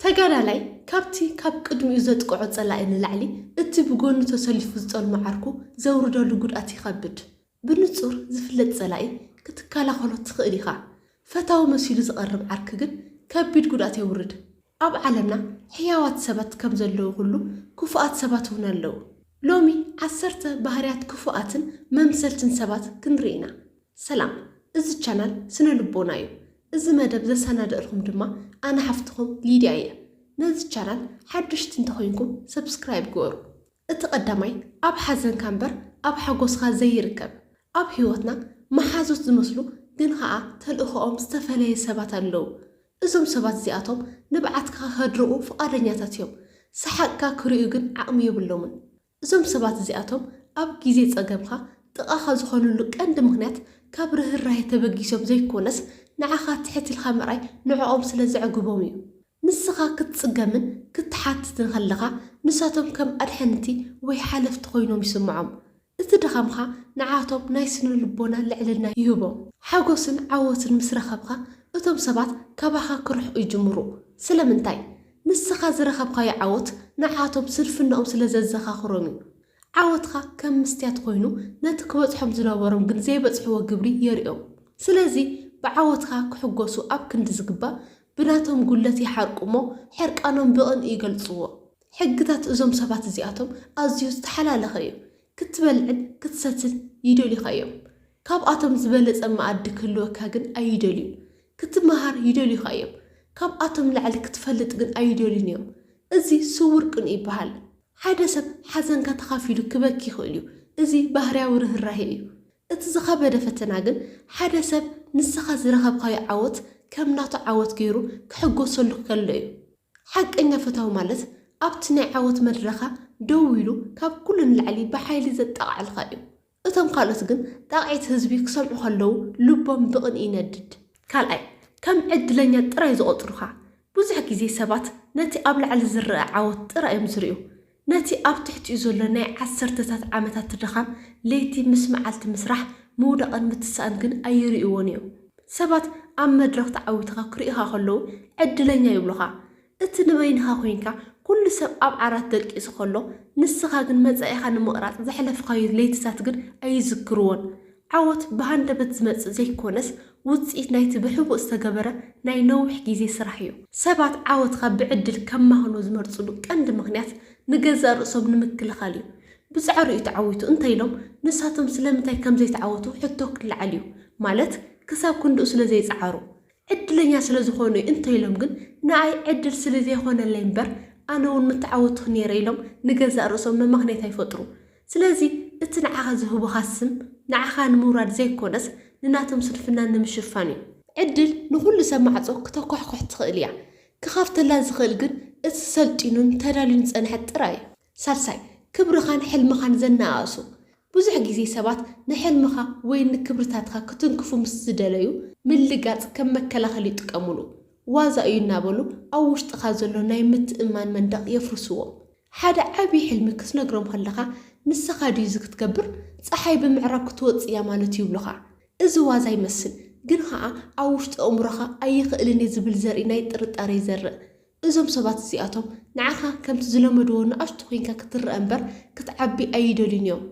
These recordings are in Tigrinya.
ተጋዳላይ ካብቲ ካብ ቅድሚኡ ዘጥቅዖ ጸላኢ ንላዕሊ እቲ ብጎኑ ተሰሊፉ ዝጠልሞ ዓርኩ ዘውርደሉ ጉድኣት ይኸብድ። ብንጹር ዝፍለጥ ጸላኢ ክትከላኸሎ ትኽእል ኢኻ። ፈታዊ መሲሉ ዝቐርብ ዓርኪ ግን ከቢድ ጉድኣት የውርድ። ኣብ ዓለምና ሕያዋት ሰባት ከም ዘለዉ ኩሉ ክፉኣት ሰባት እውን ኣለዉ። ሎሚ ዓሰርተ ባህርያት ክፉኣትን መምሰልትን ሰባት ክንርኢ ኢና። ሰላም እዚ ቻናል ስነ ልቦና እዩ እዚ መደብ ዘሰናደእልኩም ድማ ኣነ ሓፍትኩም ሊድያ እየ ነዚ ቻናል ሓዱሽቲ እንተኮይንኩም ሰብስክራይብ ግበሩ እቲ ቀዳማይ ኣብ ሓዘንካ እምበር ኣብ ሓጎስካ ዘይርከብ ኣብ ሂወትና መሓዙት ዝመስሉ ግን ከኣ ተልእኮኦም ዝተፈለየ ሰባት ኣለዉ እዞም ሰባት እዚኣቶም ንብዓትካ ከድርቁ ፍቃደኛታት እዮም ሰሓቅካ ክርእዩ ግን ዓቅሚ የብሎምን እዞም ሰባት እዚኣቶም ኣብ ግዜ ጸገምካ ጥቓኻ ዝኾንሉ ቀንዲ ምኽንያት ካብ ርህራሄ ተበጊሶም ዘይኮነስ ንዓኻ ትሕት ኢልካ ምርኣይ ንዕኦም ስለ ዘዕግቦም እዩ። ንስኻ ክትጽገምን ክትሓትትን ከለኻ ንሳቶም ከም ኣድሕንቲ ወይ ሓለፍቲ ኮይኖም ይስምዖም። እቲ ድኻምካ ንዓቶም ናይ ስነልቦና ልዕልና ይህቦም። ሓጎስን ዓወትን ምስ ረኸብካ እቶም ሰባት ካባኻ ክርሕቁ ይጅምሩ። ስለምንታይ? ንስኻ ዝረኸብካዮ ዓወት ንዓኣቶም ስንፍናኦም ስለ ዘዘኻኽሮም እዩ። ዓወትካ ከም ምስትያት ኮይኑ ነቲ ክበጽሖም ዝነበሮም ግን ዘይበጽሕዎ ግብሪ የርእዮም። ስለዚ ብዓወትካ ክሕጎሱ ኣብ ክንዲ ዝግባእ ብናቶም ጉድለት ይሓርቁ እሞ ሕርቃኖም ብቕንኢ ይገልጽዎ። ሕግታት እዞም ሰባት እዚኣቶም ኣዝዩ ዝተሓላለኸ እዩ። ክትበልዕን ክትሰትን ይደልዩኻ እዮም። ካብኣቶም ዝበለጸ መኣዲ ክህልወካ ግን ኣይደልዩን። ክትመሃር ይደልዩኻ እዮም፣ ካብኣቶም ንላዕሊ ክትፈልጥ ግን ኣይደልዩን እዮም። እዚ ስዉር ቅንኢ ይበሃል። ሓደ ሰብ ሓዘንካ ተኻፊሉ ክበኪ ይኽእል እዩ፣ እዚ ባህርያዊ ርህራሄ እዩ። እቲ ዝኸበደ ፈተና ግን ሓደ ሰብ ንስኻ ዝረኸብካዮ ዓወት ከም ናቱ ዓወት ገይሩ ክሕጎሰሉ ከሎ እዩ። ሓቀኛ ፈታዊ ማለት ኣብቲ ናይ ዓወት መድረኻ ደው ኢሉ ካብ ኩሉ ንላዕሊ ብሓይሊ ዘጣቕዐልካ እዩ። እቶም ካልኦት ግን ጣቕዒት ህዝቢ ክሰምዑ ከለዉ ልቦም ብቕንኢ ይነድድ። ካልኣይ፣ ከም ዕድለኛ ጥራይ ዝቖጽሩኻ። ብዙሕ ግዜ ሰባት ነቲ ኣብ ላዕሊ ዝረኣ ዓወት ጥራይ እዮም ዝርእዩ። ነቲ ኣብ ትሕቲኡ ዘሎ ናይ ዓሰርተታት ዓመታት ድኻም፣ ለይቲ ምስ መዓልቲ ምስራሕ፣ ምውዳቕን ምትሳእን ግን ኣይርእይዎን እዮም። ሰባት ኣብ መድረኽ ተዓዊትኻ ክርእዩኻ ከለዉ ዕድለኛ ይብሉኻ። እቲ ንበይንኻ ኮይንካ ኩሉ ሰብ ኣብ ዓራት ደቂሱ ከሎ ንስኻ ግን መጻኢኻ ንምቕራጽ ዘሕለፍኻዮ ለይትታት ግን ኣይዝክርዎን። ዓወት ብሃንደበት ዝመጽእ ዘይኮነስ ውጽኢት ናይቲ ብሕቡእ ዝተገበረ ናይ ነዊሕ ግዜ ስራሕዮ። ሰባት ዓወትካ ብዕድል ከማኽኖ ዝመርጽሉ ቀንዲ ምኽንያት ንገዛእ ርእሶም ንምክልኻልዩ። ብጻዕሩዩ ተዓዊቱ እንተኢሎም ንሳቶም ስለምንታይ ከምዘይተዓወቱ ሕቶ ክለዓልዩ። ማለት ክሳብ ክንድኡ ስለዘይጸዓሩ። ዕድለኛ ስለ ዝኾኑ'ዩ እንተይሎም ግን ንኣይ ዕድል ስለ ዘይኾነለይ እምበር ኣነ ውን ምተዓወትኩ ኔረ ኢሎም ንገዛእ ርእሶም መመኽነይታ ይፈጥሩ። ስለዚ እቲ ንዓኻ ዝህቡኻ ስም ንዓኻ ንምውራድ ዘይኮነስ ንናቶም ስንፍና ንምሽፋን እዩ። ዕድል ንኹሉ ሰብ ማዕጾ ክተኳሕኩሕ ትኽእል እያ። ክኸፍተላ ዝኽእል ግን እቲ ሰልጢኑን ተዳልዩን ዝጸንሐ ጥራይ እዩ። ሳልሳይ፣ ክብርኻን ሕልምኻን ዘነኣእሱ። ብዙሕ ግዜ ሰባት ንሕልምኻ ወይ ንክብርታትካ ክትንክፉ ምስ ዝደለዩ፣ ምልጋጽ ከም መከላኸሊ ይጥቀሙሉ። ዋዛ እዩ እናበሉ ኣብ ውሽጥኻ ዘሎ ናይ ምትእምማን መንደቕ የፍርስዎ። ሓደ ዓቢ ሕልሚ ክትነግሮም ከለኻ፣ ንሰኻ ድዩ'ዚ ክትገብር? ጸሓይ ብምዕራብ ክትወጽእ እያ ማለት'ዩ ይብሉኻ። እዚ ዋዛ ይመስል፣ ግን ኸኣ ኣብ ውሽጢ ኣእምሮኻ ኣይኽእልን እየ ዝብል ዘርኢ ናይ ጥርጣረ ይዘርእ። እዞም ሰባት እዚኣቶም ንዓኻ ከምቲ ዝለመድዎ ንኣሽቱ ኰይንካ ክትረኣ እምበር ክትዓቢ ኣይደልዩን እዮም።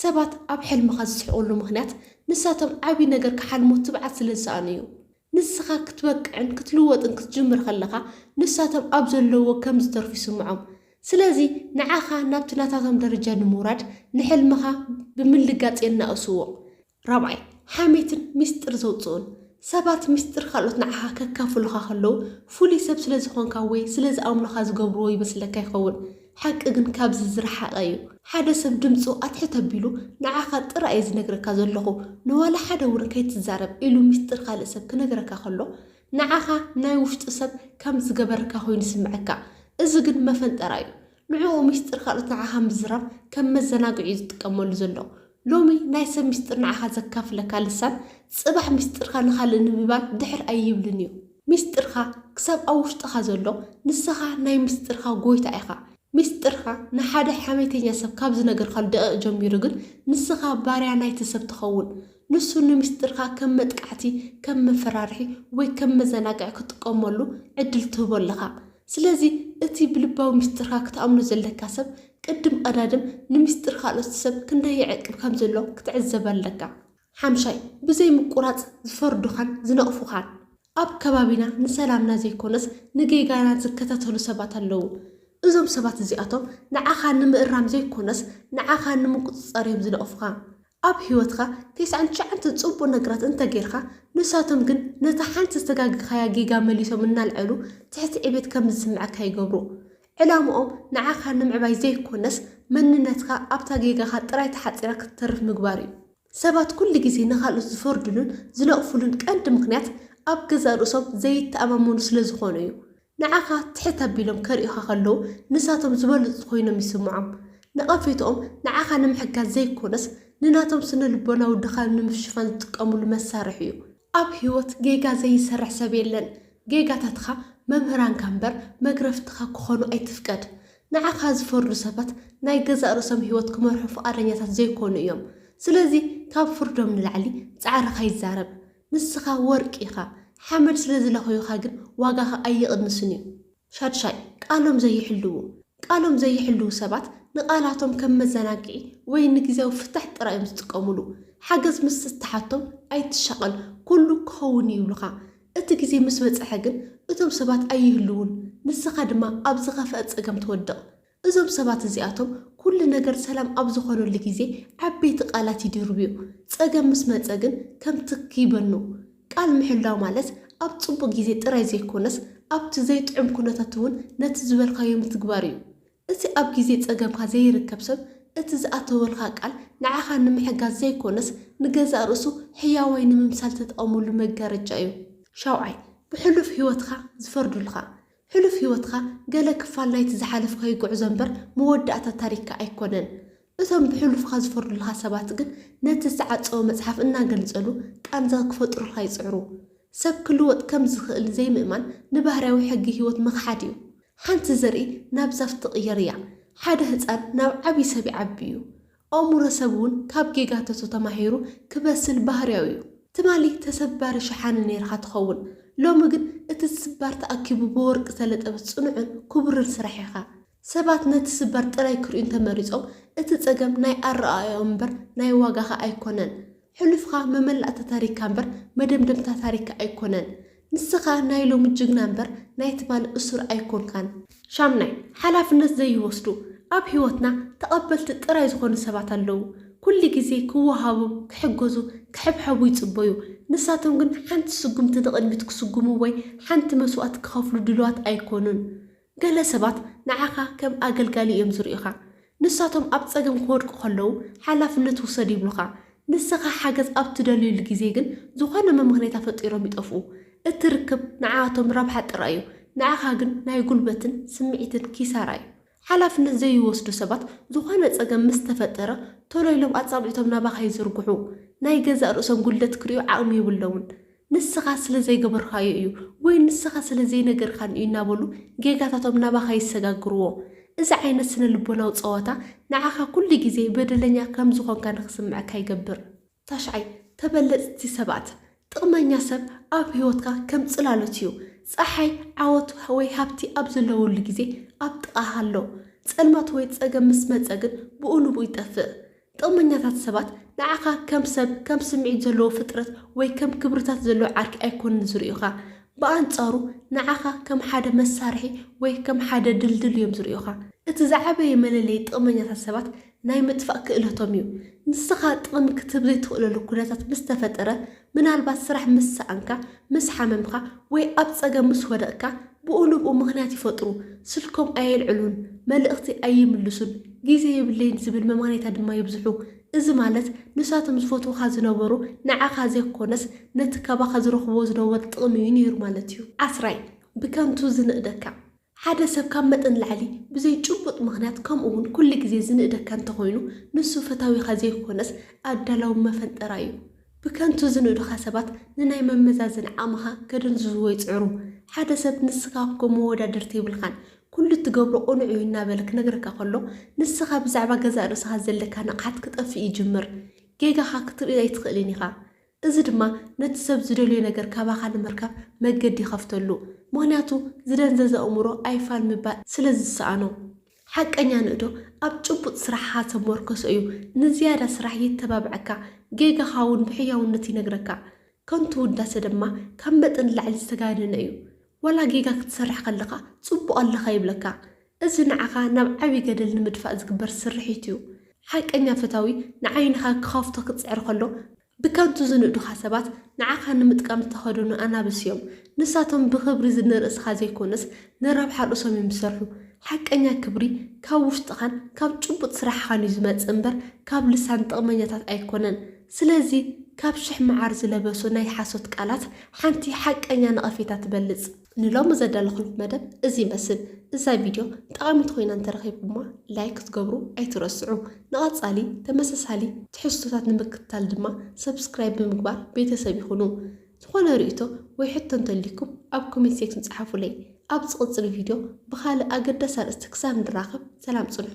ሰባት ኣብ ሕልምኻ ዝስሕቕሉ ምኽንያት ንሳቶም ዓቢ ነገር ክሓልሙ ትብዓት ስለ ዝሰኣኑ እዩ። ንስኻ ክትበቅዕን ክትልወጥን ክትጅምር ከለኻ ንሳቶም ኣብ ዘለዉዎ ከም ዝተርፉ ይስምዖም። ስለዚ ንዓኻ ናብቲ ናታቶም ደረጃ ንምውራድ ንሕልምኻ ብምልጋጽ የናእስዎ። ራብዓይ፣ ሓሜትን ሚስጥር ዘውጽኡን፣ ሰባት ሚስጥር ካልኦት ንዓኻ ከካፍሉኻ ከለዉ፣ ፍሉይ ሰብ ስለ ዝኾንካ ወይ ስለ ዝኣምኑኻ ዝገብርዎ ይመስለካ ይኸውን። ሓቂ ግን ካብዚ ዝረሓቐ እዩ። ሓደ ሰብ ድምጹ ኣትሕት ኣቢሉ ንዓኻ ጥራይ እየ ዝነግረካ ዘለኹ፣ ንዋላ ሓደ እውን ከይትዛረብ ኢሉ ሚስጥር ካልእ ሰብ ክነግረካ ከሎ፣ ንዓኻ ናይ ውሽጡ ሰብ ከም ዝገበረካ ኮይኑ ይስምዐካ። እዚ ግን መፈንጠራ እዩ። ንዕኡ ሚስጥር ካልኦት ንዓኻ ምዝራብ ከም መዘናግዒ'ዩ ዝጥቀመሉ ዘሎ። ሎሚ ናይ ሰብ ሚስጥር ንዓኻ ዘካፍለካ ልሳን፣ ጽባሕ ሚስጥርካ ንኻልእ ንምባል ድሕር ኣይብልን'ዩ። ሚስጥርካ ክሳብ ኣብ ውሽጥኻ ዘሎ፣ ንስኻ ናይ ሚስጥርካ ጎይታ ኢኻ። ሚስጥርካ ንሓደ ሓሜተኛ ሰብ ካብ ዝነገርካሉ ደቒቕ ጀሚሩ ግን፣ ንስኻ ባርያ ናይቲ ሰብ ትኸውን። ንሱ ንሚስጥርካ ከም መጥቃዕቲ፣ ከም መፈራርሒ ወይ ከም መዘናግዒ ክትጥቀመሉ ዕድል ትህቦ ኣለኻ። ስለዚ እቲ ብልባዊ ምስጢርካ ክትኣምኖ ዘለካ ሰብ ቅድም ቐዳድም ንምስጢር ካልኦት ሰብ ክንደይ ይዕቅብ ከም ዘሎ ክትዕዘብ ኣለካ። ሓምሻይ፣ ብዘይ ምቁራጽ ዝፈርዱኻን ዝነቕፉኻን። ኣብ ከባቢና ንሰላምና ዘይኮነስ ንጌጋና ዝከታተሉ ሰባት ኣለዉ። እዞም ሰባት እዚኣቶም ንዓኻ ንምእራም ዘይኮነስ ንዓኻ ንምቁጽጻር እዮም ዝነቕፉኻ። ኣብ ህይወትካ ተስዓን ትሽዓንተ ጽቡቅ ነግራት እንተ ጌርካ ንሳቶም ግን ነታ ሓንቲ ዝተጋገካያ ጌጋ መሊሶም እናልዐሉ ትሕቲ ዕቤት ከም ዝስምዐካ ይገብሩ ዕላምኦም ንዓካ ንምዕባይ ዘይኮነስ መንነትካ ኣብታ ጌጋካ ጥራይ ተሓጺራ ክትተርፍ ምግባር እዩ። ሰባት ኩሉ ግዜ ንካልኦት ዝፈርድሉን ዝነቅፍሉን ቀንዲ ምክንያት ኣብ ገዛእ ርእሶም ዘይተኣማመኑ ስለ ዝኮኑ እዩ። ንዓኻ ትሕት ኣቢሎም ከርእዩኻ ከለዉ ንሳቶም ዝበለጹ ኮይኖም ይስምዖም። ነቐፌትኦም ንዓኻ ንምሕጋዝ ዘይኮነስ ንናቶም ስነልቦናዊ ድኻም ንምሽፋን ዝጥቀምሉ መሳርሒ እዩ። ኣብ ህይወት ጌጋ ዘይሰርሕ ሰብ የለን። ጌጋታትኻ መምህራንካ እምበር መግረፍትኻ ክኾኑ ኣይትፍቀድ። ንዓኻ ዝፈርዱ ሰባት ናይ ገዛእ ርእሶም ህይወት ክመርሑ ፍቓደኛታት ዘይኮኑ እዮም። ስለዚ ካብ ፍርዶም ንላዕሊ ጻዕርኻ ይዛረብ። ንስኻ ወርቂ ኢኻ ሓመድ ስለ ዝለኸዩኻ ግን ዋጋኻ ኣይቕንስን እዩ። ሻድሻይ፣ ቃሎም ዘይሕልዉ፣ ቃሎም ዘይሕልዉ ሰባት ንቓላቶም ከም መዘናግዒ ወይ ንግዝያዊ ፍታሕ ጥራይ እዮም ዝጥቀምሉ። ሓገዝ ምስ እትሓቶም ኣይትሻቐል ኩሉ ክኸውን እዩ ይብሉኻ። እቲ ግዜ ምስ በጽሐ ግን እቶም ሰባት ኣይህልዉን ንስኻ ድማ ኣብ ዝኸፍኣ ጸገም ትወድቕ። እዞም ሰባት እዚኣቶም ኩሉ ነገር ሰላም ኣብ ዝኾነሉ ግዜ ዓበይቲ ቃላት ይድርብዩ፣ ጸገም ምስ መጸ ግን ከም ትክ ይበኑ። ቃል ምሕላው ማለት ኣብ ጽቡቕ ግዜ ጥራይ ዘይኮነስ ኣብቲ ዘይጥዑም ኩነታት እውን ነቲ ዝበልካዮ ምትግባር እዩ። እቲ ኣብ ግዜ ጸገምካ ዘይርከብ ሰብ እቲ ዝኣተወልካ ቃል ንዓኻ ንምሕጋዝ ዘይኮነስ ንገዛእ ርእሱ ሕያዋይ ንምምሳል ተጠቐመሉ መጋረጃ እዩ። ሻውዓይ፣ ብሕሉፍ ህይወትካ ዝፈርዱልካ ሕሉፍ ህይወትካ ገለ ክፋል ናይቲ ዝሓለፍካዮ ጉዕዞ እምበር መወዳእታ ታሪክካ ኣይኮነን። እቶም ብሕሉፍካ ዝፈርዱልካ ሰባት ግን ነቲ ዝተዓጸወ መጽሓፍ እናገልጸሉ ቃንዛ ክፈጥሩልካ ይጽዕሩ። ሰብ ክልወጥ ከም ዝኽእል ዘይምእማን ንባህርያዊ ሕጊ ህይወት ምኽሓድ እዩ። ሓንቲ ዘርኢ ናብ ዛፍ ትቕየር እያ። ሓደ ህጻን ናብ ዓቢ ሰብ ይዓቢ እዩ። ኦሙረ ሰብ ውን ካብ ጌጋተቱ ተማሂሩ ክበስል ባህርያዊ እዩ ትማሊ ተሰባሪ ሸሓኒ ነይርኻ ትኸውን ሎሚ ግን እቲ ዝስባር ተኣኪቡ ብወርቂ ዝተለጠበ ጽኑዕን ኩቡርን ስራሕ ኢኻ ሰባት ነቲ ስባር ጥራይ ክርእዩ እንተመሪጾም እቲ ጸገም ናይ ኣረኣእያኦም እምበር ናይ ዋጋኻ ኣይኮነን ሕሉፍካ መመላእታ ታሪካ እምበር መደምደምታ ታሪካ ኣይኮነን። ንስካ ናይ ሎሚ ጅግና እምበር ናይ ትማሊ እሱር ኣይኮንካን። ሻምናይ፣ ሓላፍነት ዘይወስዱ፣ ኣብ ሂወትና ተቀበልቲ ጥራይ ዝኮኑ ሰባት ኣለዉ። ኩሉ ግዜ ክወሃቡ፣ ክሕገዙ፣ ክሕብሐቡ ይጽበዩ። ንሳቶም ግን ሓንቲ ስጉምቲ ንቅድሚት ክስጉሙ ወይ ሓንቲ መስዋእቲ ክከፍሉ ድልዋት ኣይኮኑን። ገለ ሰባት ንዓኻ ከም ኣገልጋሊ እዮም ዝርእዩኻ። ንሳቶም ኣብ ጸገም ክወድቁ ከለዉ ሓላፍነት ውሰድ ይብሉኻ። ንስኻ ሓገዝ ኣብ እትደልዩሉ ግዜ ግን ዝኾነ መመኽነይታ ፈጢሮም ይጠፍኡ። እቲ ርክብ ንዓኣቶም ረብሓ ጥራይ እዩ፣ ንዓኻ ግን ናይ ጉልበትን ስምዒትን ኪሳራ እዩ። ሓላፍነት ዘይወስዱ ሰባት ዝኾነ ጸገም ምስ ተፈጠረ ቶሎ ኢሎም ኣጻብዕቶም ናባኻ ይዝርግሑ። ናይ ገዛእ ርእሶም ጉድለት ክርእዩ ዓቕሚ የብሎምን። ንስኻ ስለ ዘይገበርካዮ እዩ ወይ ንስኻ ስለ ዘይነገርካኒ እዩ እናበሉ ጌጋታቶም ናባኻ ይሰጋግርዎ። እዚ ዓይነት ስነ-ልቦናዊ ጸወታ ንዓኻ ኩሉ ግዜ በደለኛ ከም ዝኾንካ ንኽስምዐካ ይገብር። ታሽዓይ፣ ተበለጽቲ ሰባት። ጥቕመኛ ሰብ ኣብ ህይወትካ ከም ጽላሎት እዩ። ጸሓይ፣ ዓወት ወይ ሃብቲ ኣብ ዘለወሉ ግዜ ኣብ ጥቓኻ ኣሎ። ጸልማት ወይ ጸገም ምስ መጸ ግን ብኡ ንብኡ ይጠፍእ። ጥቕመኛታት ሰባት ንዓኻ ከም ሰብ፣ ከም ስምዒት ዘለዎ ፍጥረት ወይ ከም ክብርታት ዘለዎ ዓርኪ ኣይኰኑን ዝርእዩኻ። ብኣንጻሩ ንዓኻ ከም ሓደ መሳርሒ ወይ ከም ሓደ ድልድል እዮም ዝርእዩኻ። እቲ ዝዓበየ መለለዪ ጥቕመኛታት ሰባት ናይ ምጥፋእ ክእለቶም እዩ። ንስኻ ጥቕሚ ክትህብ ዘይትኽእለሉ ኵነታት ምስ ተፈጠረ ምናልባት ስራሕ ምስ ሰኣንካ፣ ምስ ሓመምካ ወይ ኣብ ጸገም ምስ ወደቕካ ብኡ ንብኡ ምኽንያት ይፈጥሩ፣ ስልኮም ኣየልዕሉን፣ መልእኽቲ ኣይምልሱን፣ ግዜ የብለይን ዝብል መማኔታ ድማ የብዝሑ። እዚ ማለት ንሳቶም ዝፈትዉኻ ዝነበሩ ንዓኻ ዘይኮነስ ነቲ ካባኻ ዝረኽብዎ ዝነበሩ ጥቕሚ እዩ ነይሩ ማለት እዩ። ዓስራይ፣ ብከንቱ ዝንእደካ። ሓደ ሰብ ካብ መጠን ንላዕሊ ብዘይ ጭቡጥ ምኽንያት ከምኡ ውን ኩሉ ግዜ ዝንእደካ እንተኾይኑ ንሱ ፈታዊኻ ዘይኮነስ ኣዳላዊ መፈንጠራ እዩ። ብከንቱ ዝንእዱኻ ሰባት ንናይ መመዛዘኒ ዓቕምኻ ከደንዝዝዎ ይጽዕሩ። ሓደ ሰብ ንስኻ እኮ መወዳድርቲ የብልካን ኩሉ እትገብሮ ቅኑዕ እዩ እናበለ ክነግረካ ከሎ ንስኻ ብዛዕባ ገዛእ ርእስኻ ዘለካ ንቕሓት ክጠፍእ ይጅምር። ጌጋኻ ክትርኢ ኣይትኽእልን ኢኻ። እዚ ድማ ነቲ ሰብ ዝደልዮ ነገር ካባኻ ንምርካብ መገዲ ይኸፍተሉ፣ ምኽንያቱ ዝደንዘዘ ኣእምሮ ኣይፋል ምባል ስለ ዝሰኣኖ። ሓቀኛ ንእዶ ኣብ ጭቡጥ ስራሕኻ ዝተሞርከሶ እዩ፣ ንዝያዳ ስራሕ የተባብዐካ፣ ጌጋኻ እውን ብሕያውነት ይነግረካ። ከንቱ ውዳሰ ድማ ካብ መጠን ንላዕሊ ዝተጋነነ እዩ፣ ዋላ ጌጋ ክትሰርሕ ከለኻ ጽቡቕ ኣለኻ ይብለካ፣ እዚ ንዓኻ ናብ ዓቢ ገደል ንምድፋእ ዝግበር ስርሒት እዩ። ሓቀኛ ፈታዊ ንዓይንኻ ክኸፍቶ ክጽዕር ከሎ፣ ብከንቱ ዝንእዱኻ ሰባት ንዓኻ ንምጥቃም ዝተኸድኑ ኣናብስ እዮም። ንሳቶም ብኽብሪ ንርእስኻ ዘይኮነስ ንረብሓ ርእሶም እዮም ዝሰርሑ። ሓቀኛ ክብሪ ካብ ውሽጥኻን ካብ ጭቡጥ ስራሕኻን እዩ ዝመጽእ እምበር ካብ ልሳን ጥቕመኛታት ኣይኮነን። ስለዚ ካብ ሽሕ መዓር ዝለበሱ ናይ ሓሶት ቃላት ሓንቲ ሓቀኛ ነቐፌታ ትበልጽ። ንሎሚ ዘዳለኹልኩም መደብ እዚ ይመስል። እዛ ቪድዮ ጠቓሚት ኮይና እንተረኺብኩማ ላይክ ክትገብሩ ኣይትረስዑ። ንቐጻሊ ተመሳሳሊ ትሕዝቶታት ንምክትታል ድማ ሰብስክራይብ ብምግባር ቤተሰብ ይኹኑ። ዝኾነ ርእይቶ ወይ ሕቶ እንተልዩኩም ኣብ ኮሜንት ሴክሽን ጸሓፉለይ። ኣብ ዝቕጽል ቪድዮ ብኻልእ ኣገዳሲ ኣርእስቲ ክሳብ ንራኸብ ሰላም ጽንሑ።